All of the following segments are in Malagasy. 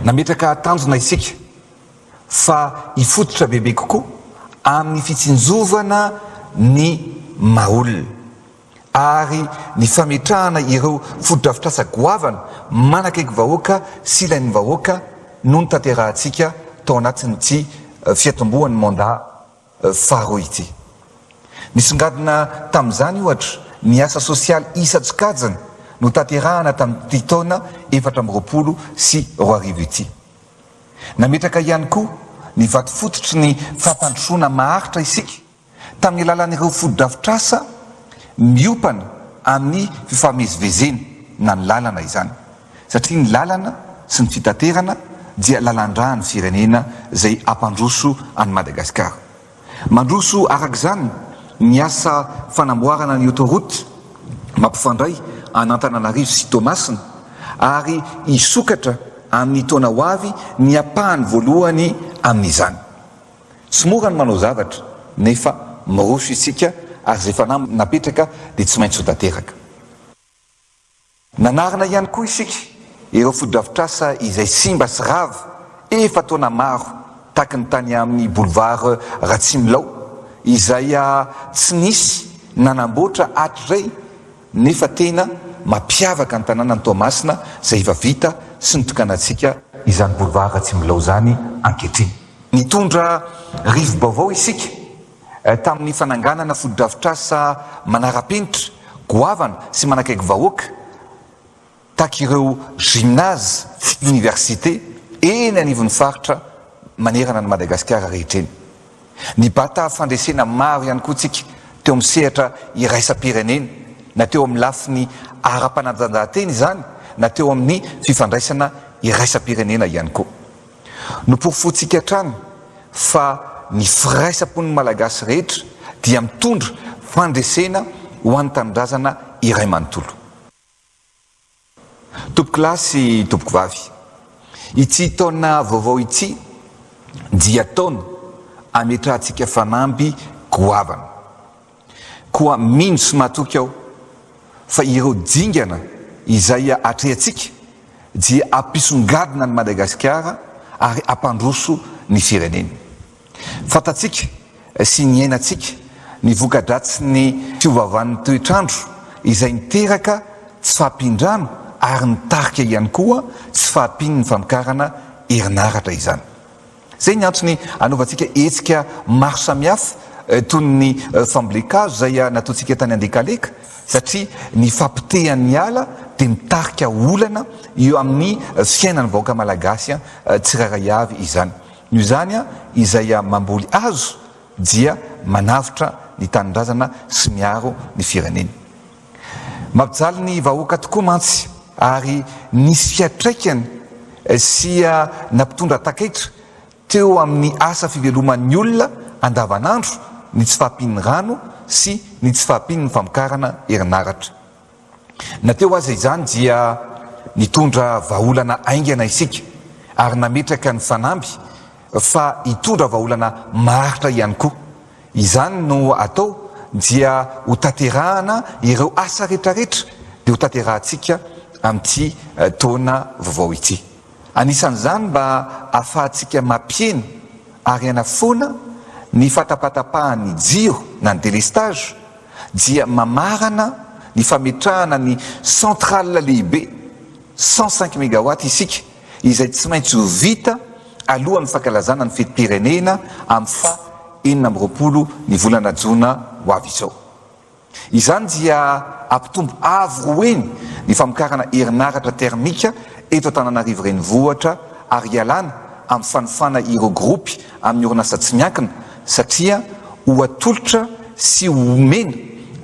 Nametraka tanjona isika fa hifototra bebe kokoa amin'ny fitsinjovana ny maha olona. ary ny fametrahana ireo fotodrafitrasa goavana manakaiky vahoaka sy ilain'ny vahoaka no notanterahantsika tao anatin'ity fiatombohan'ny mandat faharoa ity. Nisongadina tamin'izany, ohatra, ny asa sosialy isan-tsokajiny notanterahana tamin'ity taona efatra amby roapolo sy roa arivo ity. Nametraka ihany koa ny vato fototry ny fampandrosoana maharitra isika. tamin'ny alalan'ireo fotodrafitrasa miompana amin'ny fifamezivezena na ny lalana izany, satria ny lalana sy ny fitaterana dia lalandrà ny firenena izay hampandroso an'i Madagasikara. Mandroso araka izany ny asa fanamboarana ny autoroute mampifandray an'Antananarivo sy Toamasina ary hisokatra amin'ny taona ho avy ny ampahany voalohany amin'izany. Tsy mora ny manao zavatra nefa miroso isika ary izay fanahy napetraka dia tsy maintsy ho tanteraka. Nanarina ihany koa isika ireo fotodrafitrasa izay simba sy rava efa taona maro taky ny tany amin'ny boulevard Ratsimilao izay tsy nisy nanamboatra hatrizay nefa tena mampiavaka ny tanànan'i Toamasina izay efa vita sy nitokanantsika izany boulevard Ratsimilao izany ankehitriny. Nitondra rivo-baovao isika tamin'ny fananganana fotodrafitrasa manara-penitra, goavana sy manakaiky vahoaka tahaka ireo gymnase sy université eny anivon'ny faritra manerana an'i Madagasikara rehetra eny. Nibata fandresena maro ihany koa isika teo amin'ny sehatra iraisam-pirenena, na teo amin'ny lafiny ara-panatanjahantena izany na teo amin'ny fifandraisana iraisam-pirenena ihany koa. Noporofointsika hatrany fa ny firaisam-pon'ny Malagasy rehetra dia mitondra fandresena ho an'ny tanindrazana iray manontolo. Tompokolahy sy tompokovavy, ity taona vaovao ity dia taona ametrahantsika fanamby goavana. Koa mino sy matoky aho fa ireo dingana izay atrehantsika dia hampisongadina an'i Madagasikara ary hampandroso ny firenena. Fantatsika sy niainantsika ny voka-dratsin'ny fiovaovan'ny toetr'andro izay niteraka tsy fahampian-drano ary nitarika ihany koa tsy fahampian'ny famokarana herinaratra izany. Izay ny antony anaovantsika hetsika maro samihafa toy ny fambolen-kazo izay nataontsika tany Andekaleka satria ny fahapotehan'ny ala dia mitarika olana eo amin'ny fiainan'ny vahoaka malagasy tsirairay avy izany. Noho izany izay mamboly hazo dia manavotra ny tanindrazana sy miaro ny firenena. Mampijaly ny vahoaka tokoa mantsy ary nisy fiatraikany sia nampitondra takaitra teo amin'ny asa fiveloman'ny olona andavanandro ny tsy fahampian'ny rano sy ny tsy fahampian'ny famokarana herinaratra. Na teo aza izany dia nitondra vahaolana haingana isika ary nametraka ny fanamby fa hitondra vahaolana maharitra ihany koa Izany no atao dia ho tanterahana ireo asa retraretra dia ho tanterahantsika amin'ity taona vaovao ity. Anisan'izany mba afahantsika mampihena ary hanafoana ny fatapatapahan'ny jiro na ny délestage dia mamarana ny fametrahana ny centrale lehibe cent cinq mégawatts isika izay tsy maintsy ho vita alohan'ny fankalazana ny fetim-pirenena amin'ny faha enina amby roapolo ny volana jona ho avy izao. Izany dia hampitombo avo roa heny ny famokarana herinaratra termika eto Antananarivo Renivohitra ary hialana amin'ny fanofana ireo gropy amin'ny orinasa tsy miankina satria ho atolotra sy ho omena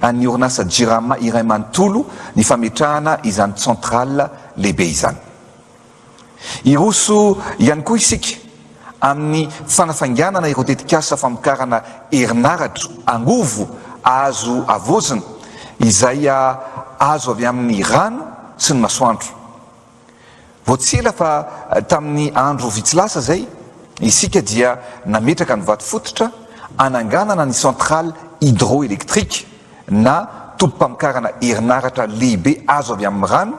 an'ny orinasa Jirama iray manontolo ny fametrahana izany centrale lehibe izany. Hiroso ihany koa isika amin'ny fanafainganana ireo tetikasa famokarana herinaratra angovo azo havaozina izay azo avy amin'ny rano sy ny masoandro. Vao tsy ela fa tamin'ny andro vitsy lasa izay, isika dia nametraka ny vato fototra hananganana ny centrale hydroélectrique na tobim-pamokarana herinaratra lehibe azo avy amin'ny rano,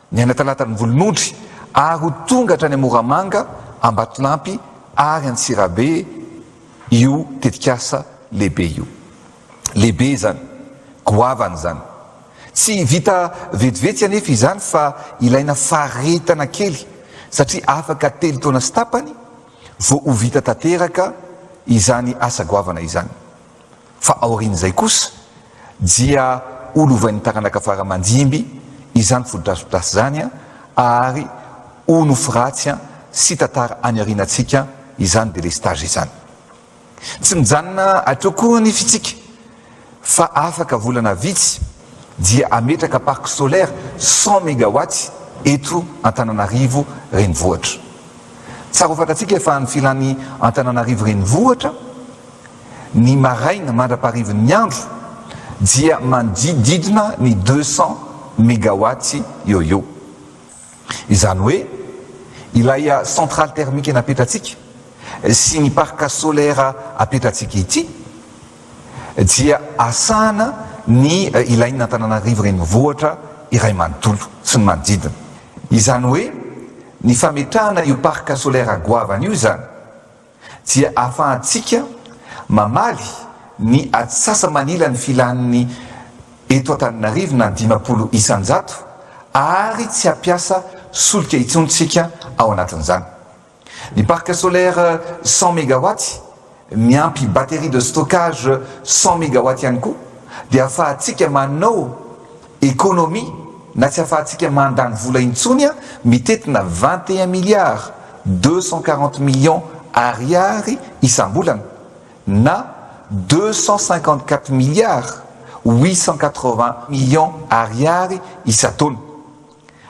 Ny any Talatan'ny Volonondry ary ho tonga hatrany Moramanga, Ambatolampy ary Antsirabe io tetikasa lehibe io. Lehibe izany, goavana izany. Tsy vita vetivety anefa izany fa ilaina faritana kely satria afaka telo taona sy tapany vao ho vita tanteraka izany asa goavana izany. Fa aorian'izay kosa dia ho lovain'ny taranaka fara aman-dimby izany fotodrafitrasa izany ary ho nofy ratsy sy tantara any aorianantsika izany délestage izany. Tsy mijanona hatreo koa ny fitsika fa afaka volana vitsy dia hametraka parc solaire cent megawatts eto Antananarivo renivohitra. Tsara ho fantatsika fa ny filan'ny Antananarivo renivohitra, ny maraina mandra-paharivin'ny andro dia manodidididina ny deux cents megawatts eo eo. Izany hoe ilay centrale thermique napetratsika sy ny parc solaire apetratsika ity dia asahana ny ilain'ny Antananarivo renivohitra iray manontolo sy ny manodidina. Izany hoe ny fametrahana io parc solaire goavana io izany dia ahafahantsika mamaly ny atsasa-manila ny filan'ny eto Antananarivo na ny dimampolo isan-jato ary tsy hampiasa solika intsony isika ao anatin'izany. Ny parc solaire cent megawatt miampy batterie de stockage cent megawatt ihany koa dia ahafahantsika manao Économie, na tsy afahantsika mandany vola intsony an, mitetina vingt et un milliards deux cent quarante millions Ariary isam-bolana, na deux cent cinquante quatre milliards huit cent quatre vingts millions Ariary isan-taona.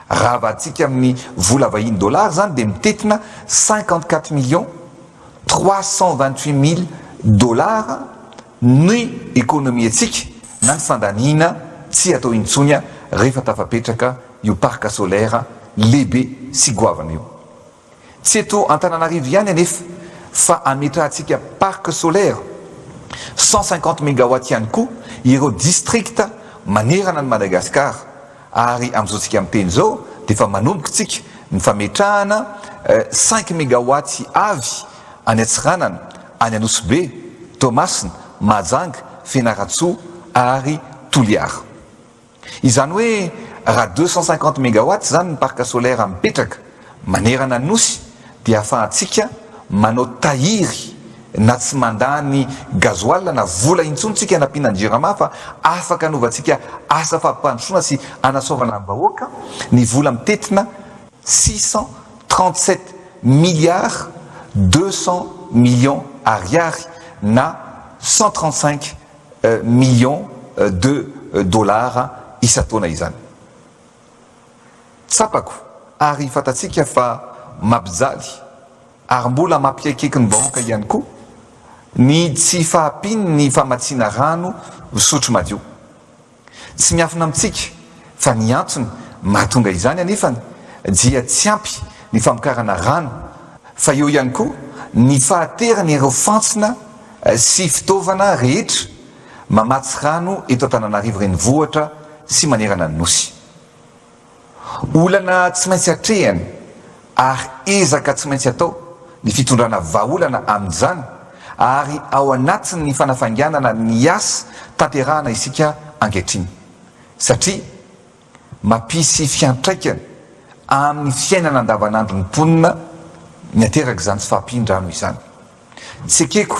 Raha avadintsika amin'ny vola vahiny dollars izany dia mitetina cinquante quatre millions trois cent vingt huit mille dollars ny ekonomiantsika na ny fandaniana tsy hatao intsony rehefa tafapetraka io parc solaire lehibe sy goavana io. Tsy eto Antananarivo ihany anefa fa hametrahantsika parc solaire cent cinquante megawatts ihany koa ireo districts manerana an'i Madagasikara Ary amin'izao tsika miteny izao dia efa manomboka tsika ny fametrahana cinq megawatts avy any Antsiranana, any Anosibe, Toamasina, Mahajanga, Fianarantsoa ary Toliara. Izany hoe raha deux cent cinquante megawatts izany ny parc solaire mipetraka, Manerana Nosy dia ahafahantsika manao tahiry na tsy mandà ny gazoala na vola intsony tsika hanampiana ny Jirama fa afaka hanovantsika asa fampandrosoana sy hanasoavana ny vahoaka ny vola mitetina six cent trente sept milliards deux cents millions Ariary na cent trente cinq millions de dollars isan-taona izany. Tsapako ary fantatsika fa mampijaly ary mbola mampiaikieky ny vahoaka ihany koa ny tsy fahampian'ny famatsiana rano fisotro madio. Tsy miafina amintsika fa ny antony mahatonga izany anefany dia tsy ampy ny famokarana rano fa eo ihany koa ny fahateran'ireo fantsona sy fitaovana rehetra mamatsy rano eto Antananarivo renivohitra sy manerana ny Nosy. Olana tsy maintsy atrehina ary ezaka tsy maintsy atao ny fitondrana vahaolana amin'izany ary ao anatin'ny fanafainganana ny asa tanterahana isika ankehitriny satria mapisy fiantraikany amin'ny fiainana andavanandron'ny mponina miaterak'izany tsy fahampian-drano izany. Tsy ekeko.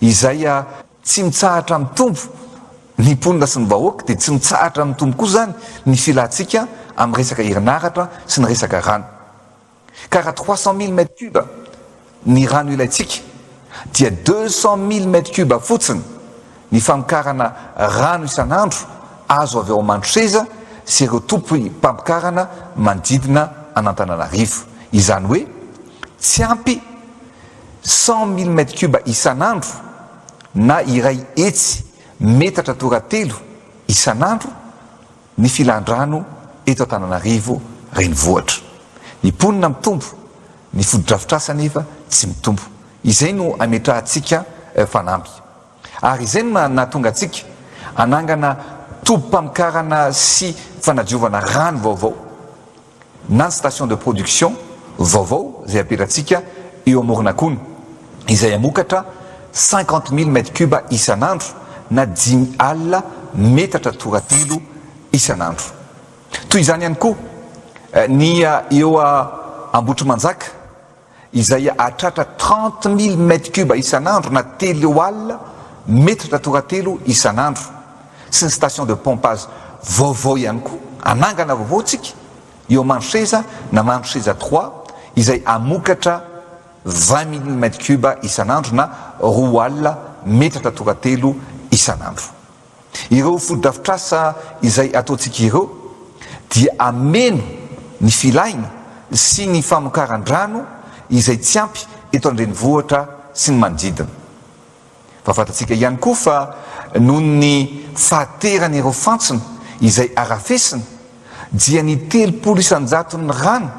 Izay a tsy mitsahatra mitombo ny mponina sy ny vahoaka dia tsy mitsahatra mitombo koa izany ny filantsika amin'ny resaka herinaratra sy ny resaka rano. Ka raha trois cent mille mètres cubes ny rano ilaintsika dia deux cent mille mètres cubes fotsiny ny famokarana rano isan'andro azo avy ao Mandroseza sy ireo tompom-pamokarana manodidina an'Antananarivo. Izany hoe tsy ampy. Cent mille mètres cubes isan'andro na iray hetsy metatra toratelo isan'andro ny filan-drano eto Antananarivo renivohitra. Ny mponina mitombo, ny fotodrafitrasa anefa tsy mitombo. Izay no ametrahantsika fanamby. Ary izay no nahatonga antsika hanangana tobim-pamokarana sy fanadiovana rano vaovao na ny station de production vaovao izay apelantsika eo Amoronakona izay hamokatra cinquante mille mètres cubes isan'andro na dimy alina metatra toratilo isan'andro. Toy izany ihany koa ny eo Ambohitrimanjaka. izay hahatratra trente mille mètres cubes isan'andro na telo alina metatra toratelo isan'andro sy ny station de pompage vaovao ihany koa hanangana vaovao tsika eo Mandroseza na Mandroseza trois izay hamokatra vingt mille mètres cubes isan'andro na roa alina metatra toratelo isan'andro. Ireo fotodrafitrasa izay ataontsika ireo dia hameno ny filaina sy ny famokaran-drano izay tsy ampy eto an-drenivohitra sy ny manodidina. Fa fantatsika ihany koa fa noho ny fahateran'ireo fantsona izay harafesina dia ny telopolo isan-jaton'ny rano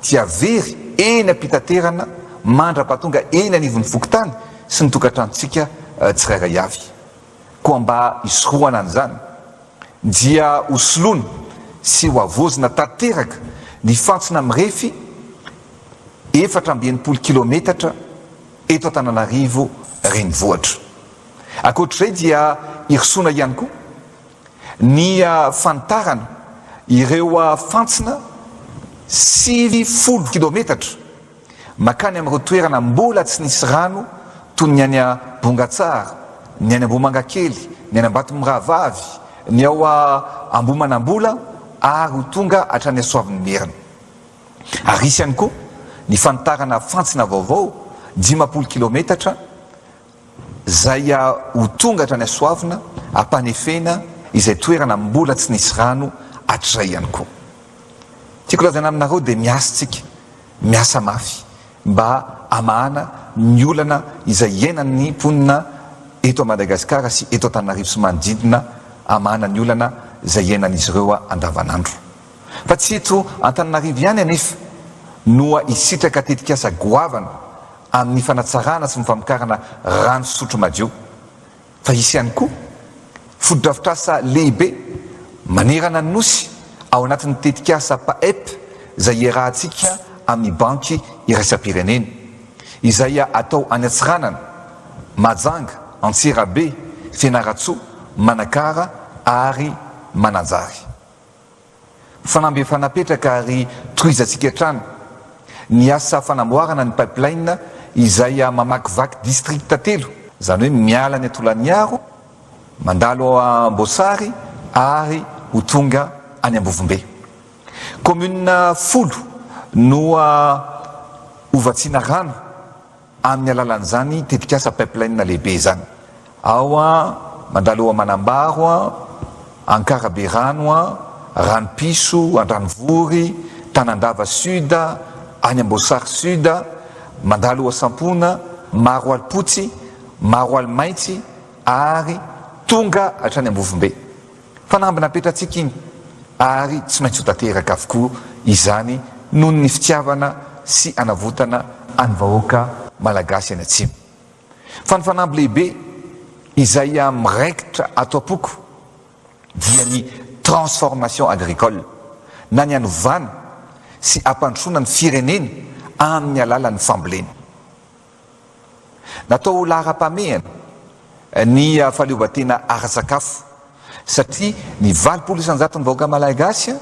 dia very eny am-pitaterana mandra-pahatonga eny anivon'ny fokontany sy ny tokantranontsika tsirairay avy. Koa mba hisorohana an'izany, dia hosoloana sy hohavaozina tanteraka ny fantsona mirefy efatra amby enimpolo kilaometatra eto Antananarivo Renivohitra. Ankoatr'izay dia hirosoana ihany koa ny fanitarana ireo fantsona sivy folo kilaometatra. Mankany amin'ireo toerana mbola tsy nisy rano toy ny any Bongatsara, ny any Ambohimangakely, ny any Ambatomirahavavy, ny ao Ambohimanambola ary ho tonga hatrany Soavinimerina. Ary hisy ihany koa ny fanitarana fantsona vaovao dimampolo kilaometatra, Zay a ho tonga hatrany Asoavina ampanefena izay toerana mbola tsy nisy rano hatrizay ihany koa. Tiako lazaina aminareo dia miasa tsika, miasa mafy mba hamahana ny olana izay iainan'ny mponina eto a Madagasikara sy eto Antananarivo sy manodidina, hamahana ny olana izay iainan'izy ireo andavanandro. Fa tsy eto Antananarivo ihany anefa no hisitraka tetikasa goavana amin'ny fanatsarana sy ny famokarana rano fisotro madio fa hisy ihany koa fotodrafitrasa lehibe manerana ny Nosy ao anatin'ny tetikasa PAEP izay iarahantsika amin'ny Banky iraisam-pirenena izay atao any Antsiranana, Mahajanga, Antsirabe, Fianarantsoa, Manakara ary Mananjary. Fanamby efa napetraka ary tohizantsika hatrany ny asa fanamboarana ny pipeline izay mamakivaky distrikta telo, izany hoe miala any Tolagnaro, mandalo ao Amboasary ary ho tonga any Ambovombe. Commune folo no hovatsiana rano. amin'ny alalan'izany tetikasa pipeline lehibe izany. Ao mandalo eo Manambaro, Ankarabe Rano, Ranopiso, Andranovory, Tanandava Sud, any Amboasary Sud, mandalo eo Sampona, Maroalipotsy, Maroalimaintsy ary tonga hatrany Ambovombe. Fanamby napetrantsika iny ary tsy maintsy ho tanteraka avokoa izany noho ny fitiavana sy anavotana an'ny vahoaka Malagasy any Atsimo. Fa ny fanamby lehibe izay miraikitra ato am-poko dia ny transformation agricole na ny hanovana sy hampandrosoana ny firenena amin'ny alalan'ny fambolena. Natao ho laharam-pahamehana ny fahaleovantena ara-tsakafo satria ny valopolo isan-jaton'ny vahoaka Malagasy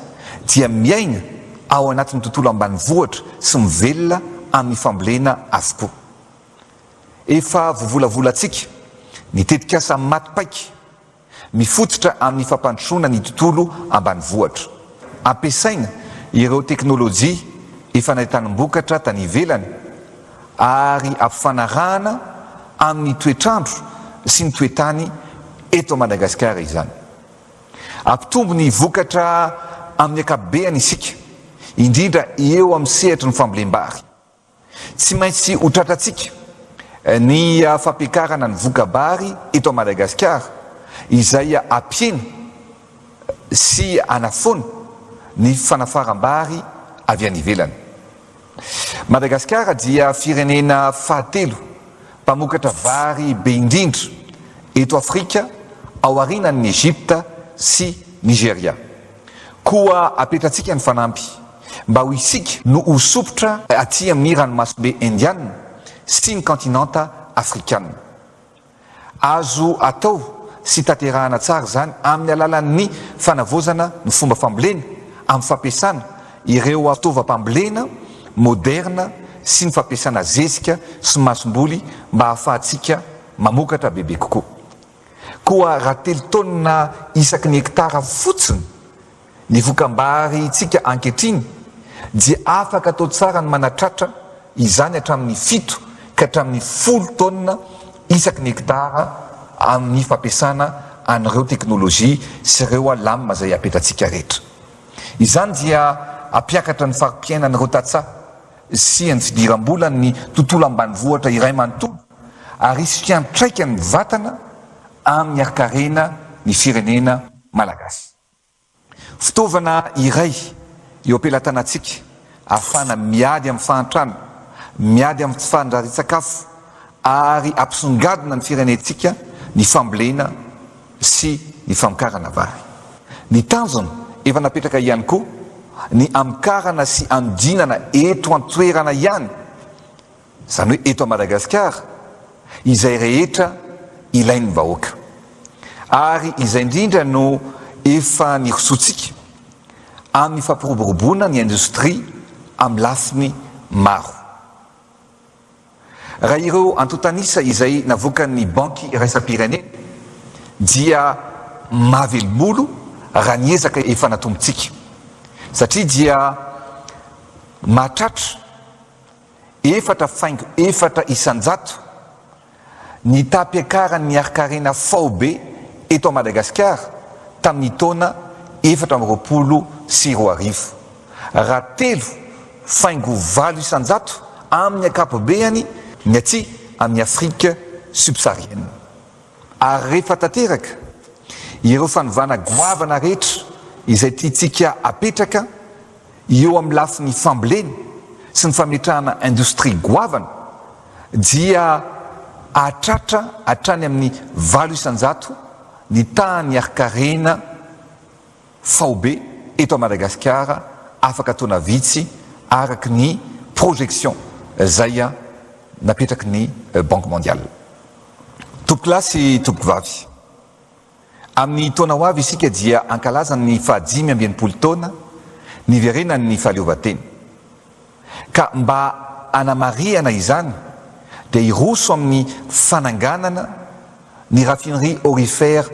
dia miaina ao anatin'ny tontolo ambanivohitra sy mivelona amin'ny fambolena avokoa. Efa vovolavolantsika ny tetikasa Maty paika. Mifototra amin'ny fampandrosoana ny tontolo ambanivohitra. Ampiasaina ireo teknolojia efa nahitanim-bokatra tany ivelany ary ampifanarahana amin'ny toetr'andro sy ny toe-tany eto Madagasikara izany. Hampitombo ny vokatra amin'ny ankapobeny isika, indrindra eo amin'ny sehatry ny fambolem-bary. Tsy maintsy ho tratrantsika ny fampiakarana ny voka-bary eto Madagasikara izay hampiena sy hanafoana ny fanafaram-bary avy any ivelany. Madagasikara dia firenena fahatelo mpamokatra vary be indrindra eto Afrika ao aorianan'i Egypta sy Nigeria. Koa apetrantsika ny fanamby. Mba ho isika no ho sompitra aty amin'ny ranomasobe Indiana sy ny kaontinanta Afrikana. Azo atao sy tanterahana tsara izany amin'ny alalan'ny fanavaozana ny fomba fambolena amin'ny fampiasana ireo fitaovam-pambolena moderina sy ny fampiasana zezika sy masomboly mba hahafahantsika mamokatra bebe kokoa. Koa raha telo taonina isaky ny hektara fotsiny Ny vokambarintsika ankehitriny dia afaka atao tsara ny manatratra izany hatramin'ny fito ka hatramin'ny folo taonina isaky ny hektara amin'ny fampiasana an'ireo teknolojia sy ireo alam izay apetratsika rehetra. Izany dia hampiakatra ny fari-piainan'ireo tantsaha sy ny fidiram-bolan'ny tontolo ambanivohitra iray manontolo ary hisy fiantraikany mivantana amin'ny harikarena ny firenena malagasy. Fitaovana iray eo am-pelatanantsika ahafahana miady amin'ny fahantrana, miady amin'ny tsy fandrarian-tsakafo ary hampisongadina ny firenentsika ny fambolena sy ny famokarana vary. Ny tanjona efa napetraka ihany koa ny hamokarana sy hanodinana eto an-toerana ihany Izany hoe eto Madagasikara, izay rehetra ilain'ny vahoaka. Ary izay indrindra no efa nirosoantsika, amin'ny fampiroboroboana ny indostria amin'ny lafiny maro. Raha ireo antontan'isa izay navoakan'ny Banky Iraisam-pirenena dia mahavelom-bolo raha ny ezaka efa natombontsika, satria dia mahatratra, efatra faingo efatra isan-jato ny tapiakaran' ny harin-karena faobe eto Madagasikara tamin' ny taona efatra amby roapolo sy roa arivo, raha telo faingo valo isan-jato amin' ny ankapobeany ny atsy amin' i Afrika Subsaharienne. Ary rehefa tanteraka ireo fanovana goavana rehetra izay tiantsika apetraka, Eo amin'ny lafiny fambolena sy ny fametrahana indostria goavana dia hahatratra hatrany amin'ny valo isan-jato ny tahan'ny harin-karena faobe eto Madagasikara afaka taona vitsy araka ny projection izay napetraky ny Banque Mondiale. Tompokolahy sy tompokovavy. Amin'ny taona ho avy isika dia hankalaza ny fahadimy amby enimpolo taona niverenan'ny fahaleovantena. Ka mba hanamarihana izany dia hiroso amin'ny fananganana ny Raffinerie Aurifère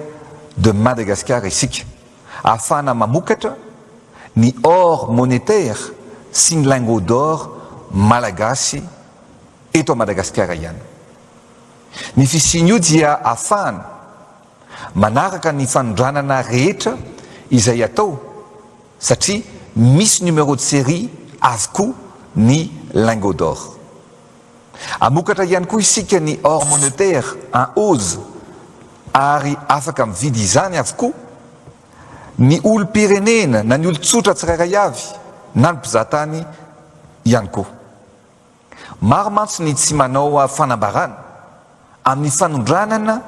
de Madagascar isika ahafahana mamokatra ny or monétaire sy ny lingots d'or malagasy eto Madagasikara ihany. Ny fisian'io dia afahana manaraka ny fanondranana rehetra izay atao satria misy numéro de série avokoa ny lingots d'or. Amokatra ihany koa isika ny or monetaire en hausse ary afaka mividy izany avokoa ny olom-pirenena na ny olon-tsotra tsirairay avy na ny mpizahatany ihany koa. Maro mantsy ny tsy manao fanambarana amin'ny fanondranana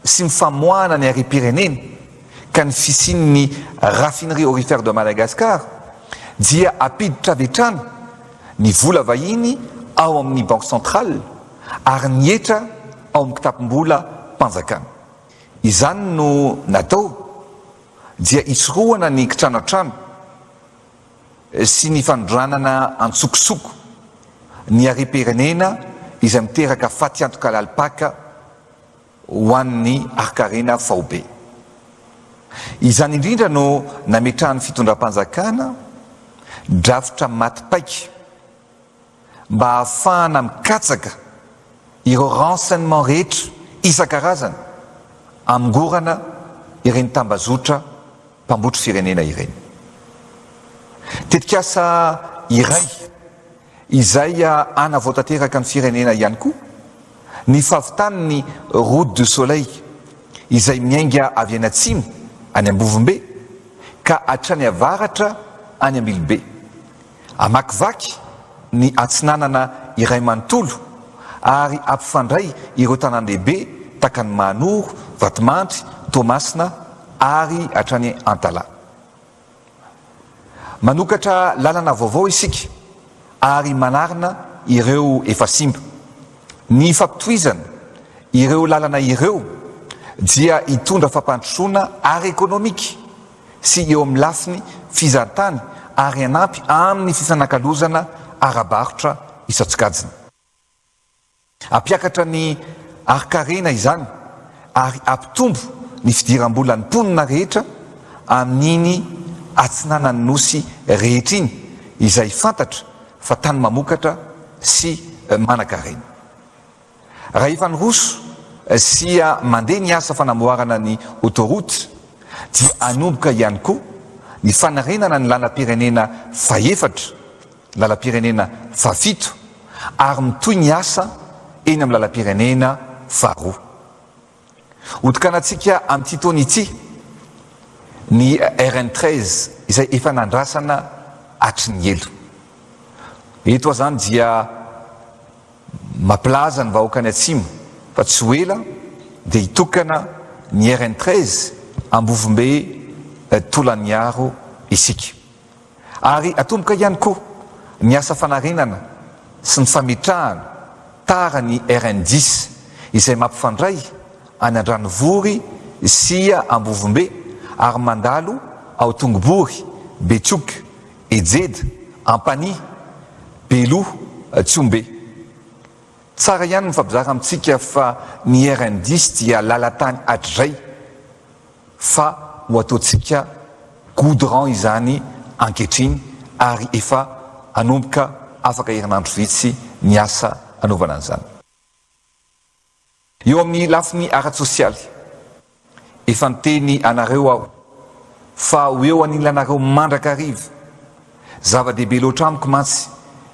sy ny famoahana ny harem-pirenena ka ny fisian'ny Raffinerie Aurifère de Madagascar dia ampiditra avy hatrany ny vola vahiny ao amin'ny Banque Centrale ary ny hetra ao amin'ny kitapom-bola mpanjakana. Izany no natao dia hisorohana ny kitranantrano. sy ny fanondranana antsokosoko ny harem-pirenena izay miteraka fatiantoka lalim-paka ho an'ny harin-karena faobe. Izany indrindra no nametrahan'ny fitondram-panjakana drafitra maty paika mba hahafahana mikatsaka ireo renseignements rehetra isan-karazany hamongorana ireny tambazotra mpambotry firenena ireny. Tetikasa iray izay hanavao tanteraka ny firenena ihany koa ny fahavitan'ny Route du Soleil izay miainga avy any atsimo any Ambovombe ka hatrany avaratra any Ambilobe. Hamakivaky ny Atsinanana iray manontolo ary hampifandray ireo tanàn-dehibe takan'i Mahanoro, Vatomandry, Toamasina ary hatrany Antala. Manokatra lalana vaovao isika ary manarina ireo efa simba. Ny fampitohizana ireo lalana ireo dia hitondra fampandrosoana ara-ekonomika sy eo amin'ny lafiny fizahantany ary hanampy amin'ny fifanakalozana ara-barotra isan-tsokajiny. Hampiakatra ny harinkarena izany ary hampitombo ny fidiram-bolan'ny mponina rehetra amin'iny atsinanan'ny Nosy rehetra iny izay fantatra fa tany mamokatra sy manankarena. Raha efa niroso sy mandeha ny asa fanamboarana ny autoroute dia hanomboka ihany koa ny fanarenana ny lalam-pirenena fahefatra, lalam-pirenena fahafito ary mitohy ny asa eny amin'ny lalam-pirenena faharoa. Hotokanantsika amin'ity taona ity ny RN treize izay efa nandrasana hatry ny ela. Eto aho izany dia mampilaza ny vahoakan'ny Atsimo fa tsy ho ela dia hitokana ny RN treize Ambovombe Tolaniaro isika. Ary atomboka ihany koa ny asa fanarenana sy ny fametrahana tara ny RN dix izay mampifandray any Andranovory sy Ambovombe ary mandalo ao Tongobory, Betioky, Ejeda, Ampanihy, Beloha, Tsihombe. Tsara ihany ny mifampizara amintsika fa ny RN dix dia lalan-tany hatrizay. fa ho ataontsika goudron izany ankehitriny ary efa hanomboka afaka herinandro vitsy ny asa hanaovana an'izany. Eo amin'ny lafiny ara-tsosialy, efa niteny anareo aho fa ho eo anilanareo mandrakariva Zava-dehibe loatra amiko mantsy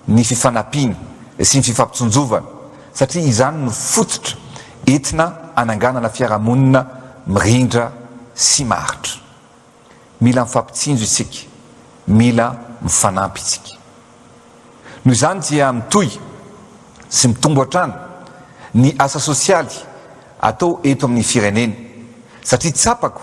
ny fifanampiana sy ny fifampitsinjovana satria izany no fototra entina hananganana fiarahamonina mirindra sy maharitra. Mila mifampitsinjo isika, mila mifanampy isika. Noho izany dia mitohy sy mitombo hatrany ny asa sosialy atao eto amin'ny firenena satria tsapako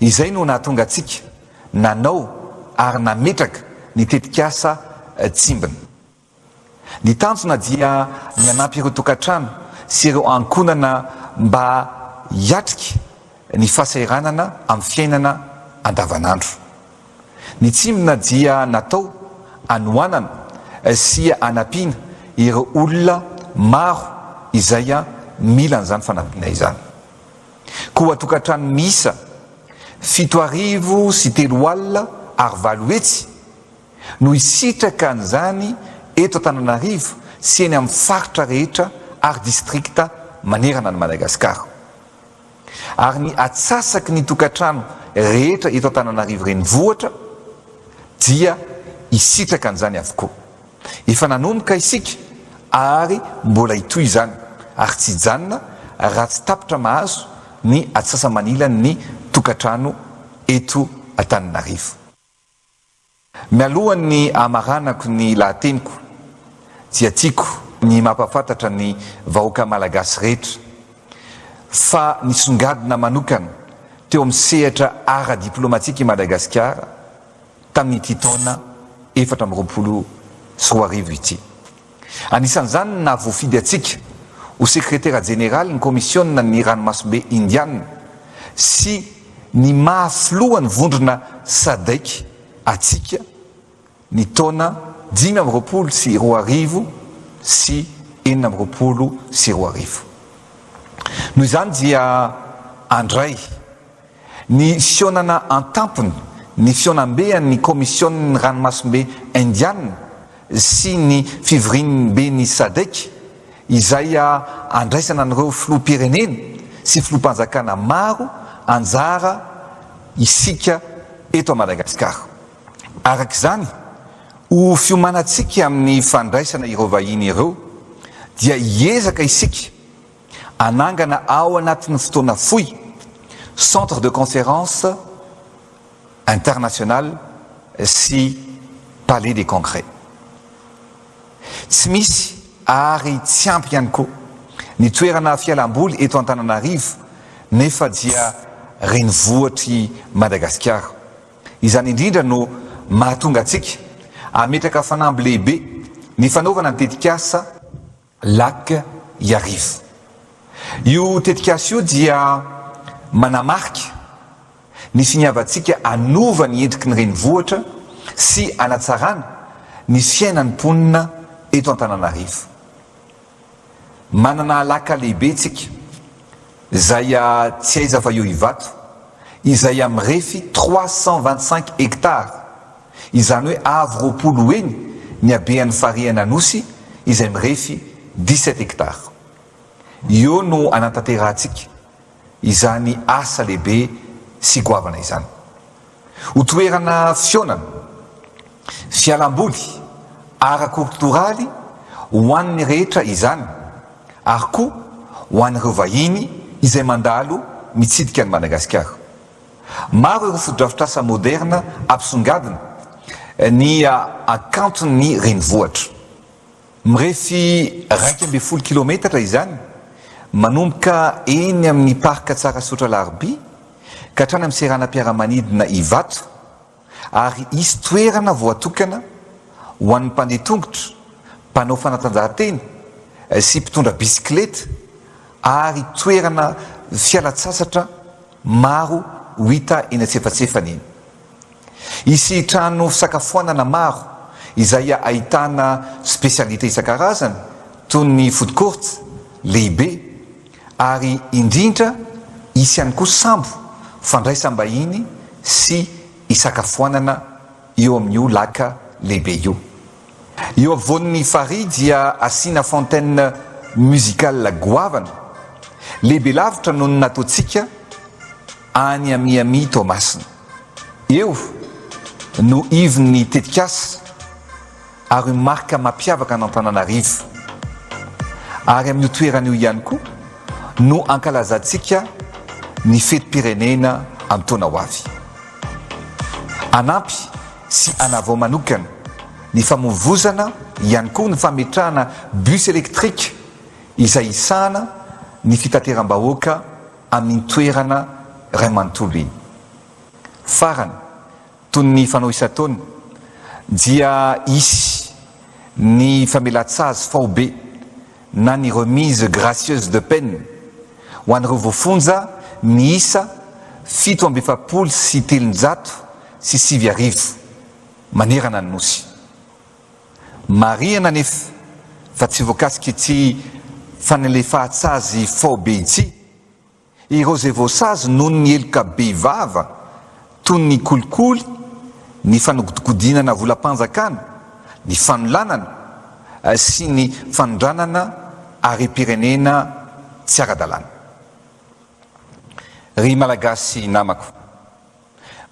Izay no nahatonga antsika nanao ary nametraka ny tetikasa Tsimbina. Ny tanjona dia ny hanampy ireo tokantrano sy ireo ankohonana mba hiatrika ny fahasahiranana amin'ny fiainana andavanandro. Ny Tsimbina dia natao hanohanana sy hanampiana ireo olona maro izay mila an'izany fanampiana izany. Koa tokantrano miisa fito arivo sy telo alina ary valo hetsy no hisitraka an'izany eto Antananarivo sy eny amin'ny faritra rehetra ary distrikta manerana an'i Madagasikara. Ary ny atsasaky ny tokantrano rehetra eto Antananarivo Renivohitra dia hisitraka an'izany avokoa. Efa nanomboka isika ary mbola hitohy izany ary tsy hijanona raha tsy tapitra mahazo ny atsasa-manilan' ny tokantrano eto Antananarivo. Mialohan' ny hamaranako ny lahateniko dia tiako ny mampahafantatra ny vahoaka malagasy rehetra fa nisongadina manokana teo amin'ny sehatra ara-diplaomatika i Madagasikara, tamin'ity taona efatra amby roapolo sy roa arivo ity. Anisan'izany ny nahavoafidy antsika ho Sekretera Jeneralin'ny Kaomisionan'ny Ranomasimbe Indiana sy ny maha Filohan'ny Vondrona Sadc antsika ny taona dimy amby roapolo sy roa arivo sy enina amby roapolo sy roa arivo. Noho izany dia handray. Ny fihaonana an-tampony, ny fihaonambean'ny Kaomision'ny Ranomasimbe Indiana sy ny fivoriamben'ny Sadc izay andraisana an'ireo filoham-pirenena sy filoham-panjakana maro anjara isika eto Madagasikara. Araka izany, ho fiomanantsika amin'ny fandraisana ireo vahiny ireo dia hiezaka isika Hanangana ao anatin'ny fotoana fohy Centre de Conférence International sy Palais des Congrès. Tsy misy ary tsy ampy ihany koa ny toerana fialam-boly eto Antananarivo nefa dia renivohitr'i Madagasikara. Izany indrindra no mahatonga antsika hametraka fanamby lehibe ny fanaovana ny tetikasa. Lac Iarivo. Io tetikasa io dia manamarika ny finiavantsika hanova ny endriky ny renivohitra sy hanatsarana ny fiainan'ny mponina eto Antananarivo. Manana alaka lehibe isika Zay a tsy aiza fa eo Ivato izay a mirefy trois cent vingt cinq hectares izany hoe avo roapolo ho eny ny habean'ny farihan' Anosy izay mirefy dix sept hectares. Eo no anantanterahantsika izany asa lehibe sy goavana izany. Ho toerana fihaonana, fialamboly, ara-kortoraly ho an'ny rehetra izany ary koa ho an'ireo vahiny izay mandalo mitsidika an'i Madagasikara. Maro ireo fotodrafitrasa moderina ampisongadina ny hakanton'ny renivohitra. Mirefy iraika ambin'ny folo kilometatra izany, manomboka eny amin'ny Parc Tsarasaotra Alarobia ka hatrany amin'ny seranam-piaramanidina Ivato ary hisy toerana voatokana ho an'ny mpandeha tongotra, mpanao fanatanjahantena sy mpitondra bisikileta ary toerana fialan-tsasatra maro ho hita eny antsefatsefany eny. Hisy trano fisakafoanana maro izay ahitana spécialités isan-karazany toy ny food court lehibe ary indrindra hisy ihany koa sambo fandraisam-bahiny sy hisakafoanana eo amin'io lac lehibe io. Eo afovoan'ny farihy dia asiana fontaine musicale goavana, lehibe lavitra noho ny nataontsika any à Miami Toamasina. Eo no ivon'ny tetikasa ary marika mampiavaka an'Antananarivo. Ary amin'io toerana io ihany koa no ankalazantsika ny fetim-pirenena amin'ny taona ho avy. Hanampy. sy hanavao manokana ny famovozana ihany koa ny fametrahana bus électrique izay hisahana ny fitateram-bahoaka amin'iny toerana iray manontolo iny. Farany, toy ny fanao isan-taona, dia hisy ny famelan-tsazy faobe na ny remise gracieuse de peine ho an'ireo voafonja miisa fito amby efapolo sy telonjato sy sivy arivo manerana ny Nosy. Marihana anefa fa tsy voakasik'ity fanalefahan-tsazy faobe ity ireo izay voasazy noho ny heloka be vava toy ny kolikoly, ny fanodikodinana volam-panjakana, ny fanolanana sy ny fanondranana harem-pirenena tsy ara-dalàna. Ry Malagasy namako!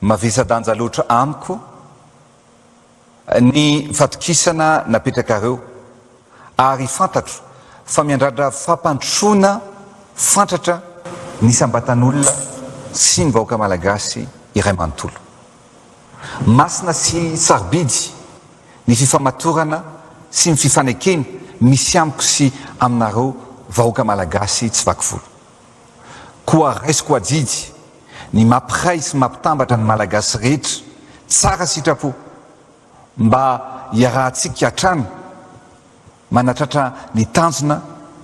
Mavesa-danja loatra amiko ny fatokisana napetrakareo ary fantatro fa miandrandra fampandrosoana fantratra ny isam-batan'olona sy ny vahoaka malagasy iray manontolo. Masina sy sarobidy ny fifamatorana sy ny fifanekena misy amiko sy aminareo vahoaka malagasy tsy vaky volo. Koa raisiko adidy ny mampiray sy mampitambatra ny Malagasy rehetra tsara sitrapo mba hiarahantsika hatrany manatratra ny tanjona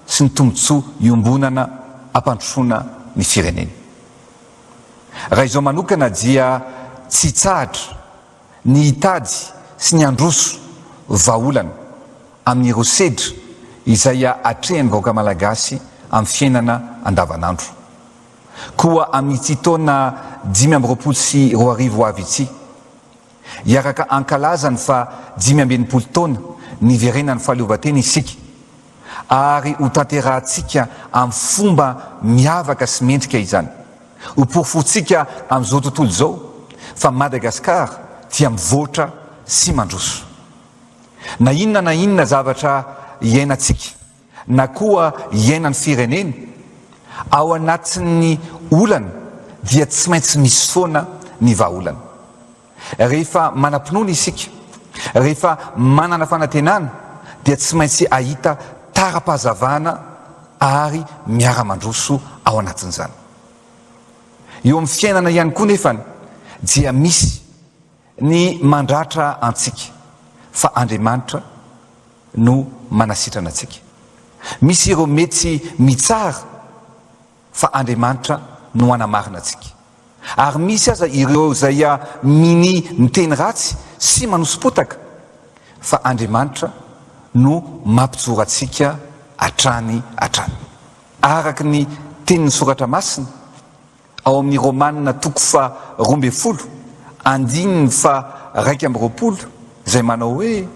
sy ny tombontsoa iombonana hampandrosoana ny firenena. Raha izao manokana dia tsy hitsahatra ny hitady sy ny handroso vahaolana amin'ireo sedra izay atrehan'ny vahoaka malagasy amin'ny fiainana andavanandro. Koa amin'ity taona dimy amby roapolo sy roa arivo ho avy ity, hiaraka hankalaza ny faha dimy amby enimpolo taona niverenan'ny fahaleovantena isika ary hotanterahantsika amin'ny fomba miavaka sy mendrika izany. Ho porofontsika amin'izao tontolo izao fa Madagascar dia mivoatra sy mandroso. Na inona na inona zavatra iainantsika na koa iainan'ny firenena ao anatin'ny olana dia tsy maintsy misy foana ny vahaolana. Rehefa manam-pinoana isika, rehefa manana fanantenana, dia tsy maintsy hahita tara-pahazavana ary miara-mandroso ao anatin'izany. Eo amin'ny fiainana ihany koa nefa dia misy ny mandratra antsika, fa Andriamanitra no manasitrana antsika. Misy ireo mety mitsara. fa Andriamanitra no hanamarina antsika. Ary misy aza ireo izay mini miteny ratsy sy manoso-potaka, fa Andriamanitra no mampijoro antsika hatrany hatrany. Araka ny tenin'ny Soratra Masina ao amin'ny Romana toko faharoa ambin'ny folo andininy faharaika amby roapolo izay manao hoe.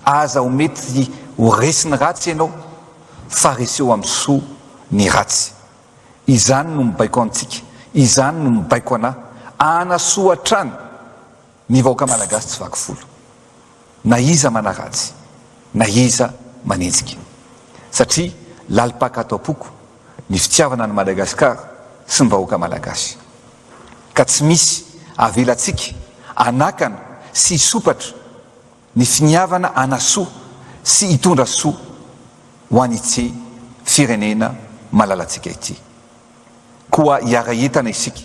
Aza ho mety ho resin'ny ratsy ianao fa reseho amin'ny soa ny ratsy. Izany no mibaiko antsika, izany no mibaiko anà. Hanasoa hatrany ny vahoaka malagasy tsy vaky volo na iza manaratsy na iza manenjika. Satria lalim-paka ato am-poko ny fitiavana an'i Madagasikara sy ny vahoaka malagasy. Ka tsy misy avelantsika hanakana sy hisompatra Ny finiavana hanasoa sy hitondra soa ho an'ity firenena malalantsika ity. Koa hiara-hientana isika,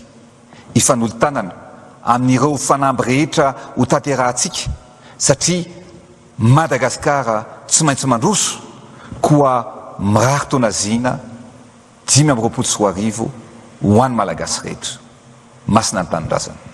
hifanolo-tanana amin'ireo fanamby rehetra ho tanterahantsika satria Madagasikara tsy maintsy mandroso koa mirary tonaziana Dimy amby roapolo sy roa arivo ho an'ny Malagasy rehetra. Masina ny Tanindrazana.